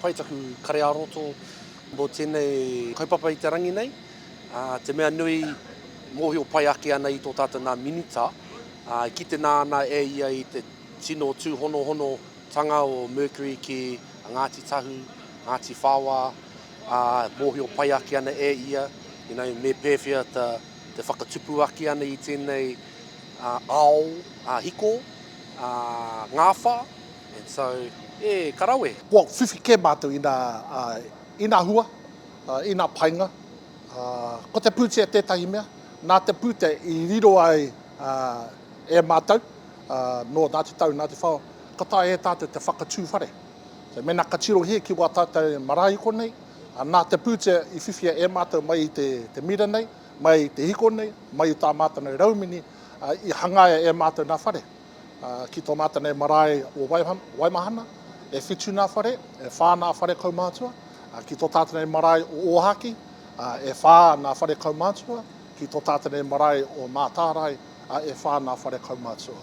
Pai taku kare-ā-roto mō tēnei kaupapa i te rangi nei. Te mea nui, mōhio pai ake ana i tō tātou nā Minita, e kite nā ana e ia i te tino tūhonohonotanga o Mercury ki a Ngāti Tahu, Ngāti Whaoa, ā, mōhio pai ake ana e ia, you know, me pēwhea te whakatupu ake ana i tēnei ao hiko, ngāwhā. and so e ka rawe. Kua whiwhi kē mātou i nā, i nā hua, i nā painga. Ko te pūtea tētahi mea, nā te pūtea i riro ai e mātou, nō nā te tau, nā te whao, ka taea e tātou te whakatū whare. Mēnā ka tirohia ki wā tātou marae hiko nei, nā te pūtea i whiwhia e mātou mai i te mira nei, mai i te hiko nei, mai i tā mātou nei raumini, i hangaia e mātou nā whare. Ki tō mātou nei marae o Waimahana, e whitu nā whare, e whā nā whare kaumātua. Ki tō tātou nei marae o Ōhākī, e whā nā whare kaumātua. Ki tō tātou nei marae o Mātārae, e whā nā whare kaumātua.